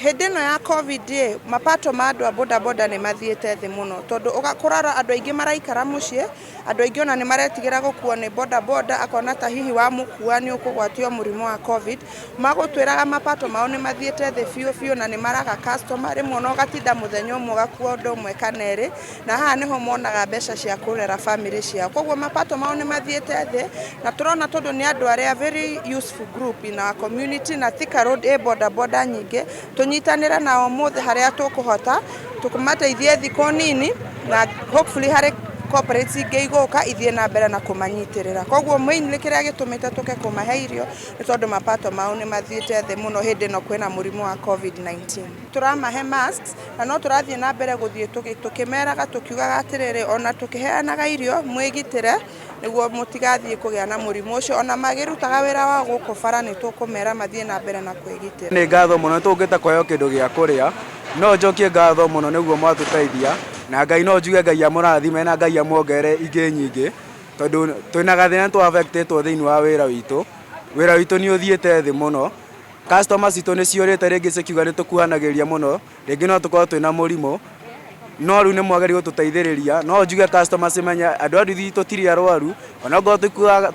Hĩndĩ ĩno ya Covid rĩ, mapato ma andũ a bodaboda nĩ mathiĩte thĩ mũno, tondũ kũrora andũ aingĩ maraikara mũciĩ, andũ aingĩ ona nĩ maretigĩra gũkuo nĩ bodaboda, akona ta hihi wamũkua nĩ ũkũgwatio mũrimũ wa Covid. Magũtwĩraga mapato mao nĩ mathiĩte thĩ biũ biũ na nĩ maraga customer, rĩmwe ona ũgatinda mũthenya ũmwe ũgakuo ũndũ ũmwe kana erĩ. na haha nĩho monaga mbeca cia kũrera family ciao koguo mapato mao nĩ mathiĩte thĩ na tũrona tondũ nĩ andũ arĩa very useful group in our community na Thika Road ĩ boda boda nyingĩ tũnyitanĩre nao mũthĩ harĩa tũkũhota tũkũmateithie thikũ nini na hopefully harĩ corporates ingĩ igũka ithiĩ na mbere na kũmanyitĩrĩra koguo mainly kĩrĩa gĩtũmĩte tũke kũmahe irio nĩ tondũ mapato mao nĩ mathiĩte thĩ mũno hĩndĩ ĩno kwĩna mũrimũ wa covid-19 tũramahe masks Na no tũrathiĩ na mbere gũthiĩ tũkĩmeraga tũkiugaga atĩrĩrĩ, o na tũkĩheanaga irio, mwĩgitĩre nĩguo mũtigathiĩ kũgĩa na mũrimũ ũcio. O na makĩrutaga wĩra wao gũkũ bara, nĩ tũkũmera mathiĩ na mbere na kwĩgitĩra. Nĩ ngatho mũno nĩ tũũkĩte kũheo kĩndũ gĩa kũrĩa. No njokie ngatho mũno nĩ ũguo mwatũteithia. Na Ngai no njuge Ngai amũrathime na Ngai amuongerere ingĩ nyingĩ, tondũ twĩna gathĩna nĩ tũ affect ĩtwo thĩinĩ wa wĩra witũ. Wĩra witũ nĩ ũthiĩte thĩ mũno. Customer citũ nĩ ciũrĩte rĩngĩ cikiuga nĩ tũkuhanagĩrĩria mũno, rĩngĩ no tũkorwo twĩna mũrimũ, no rĩu nĩ mwagĩrĩire gũtũteithĩrĩria. No njuge customer cimenye andũ a nduthi tũtirĩ arwaru, ona okorwo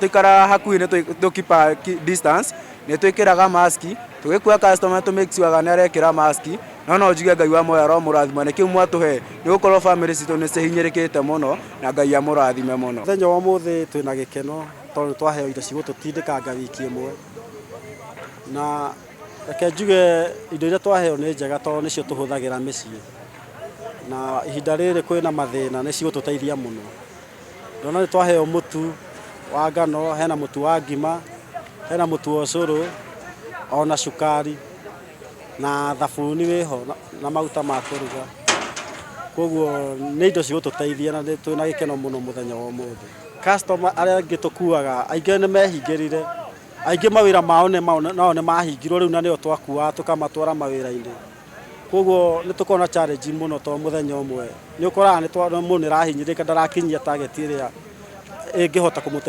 tũikaraga hakuhĩ nĩ tũ keep a distance, nĩ twĩkĩraga mask, tũgĩkua customer nĩ tũ make sure nĩ arekĩra mask, no no njuge Ngai wa muoyo aromũrathima nĩkĩo mwatũhe, nĩ gũkorwo bamĩrĩ citũ nĩ cihinyĩrĩkĩte mũno, na Ngai amũrathime mũno. Mũthenya wa ũmũthĩ twĩna gĩkeno tondũ nĩ twaheo indo cigũtũtindĩkanga wiki ĩmwe. na reke njuge indo iria twaheo nĩ njega tondũ nĩcio tũhũthagĩra mĩciĩ na ihinda rĩrĩ kwĩna mathĩna nĩ cigũtũteithia mũno ndona nĩ twaheo mũtu wa ngano hena mũtu wa ngima hena mũtu wa ũcũrũ ona cukari na thabuni wĩho na maguta ma kũruga koguo nĩ indo cigũtũteithia na twĩna gĩkeno mũno mũthenya wa ũmũthĩ Customer arĩa angĩ tũkuaga aingĩ nĩ mehingĩrire, aingĩ mawĩra mao nĩ mao nao nĩ mahingirwo rĩu na nĩo twakuaga tũkamatwara mawĩra-inĩ, koguo nĩ tũkoragwo na challenge mũno tondũ mũthenya ũmwe nĩ ũkoraga mũndũ nĩ arahinyĩrĩrĩka ndarakinyia target ĩrĩa ĩngĩhota kũmũteithia.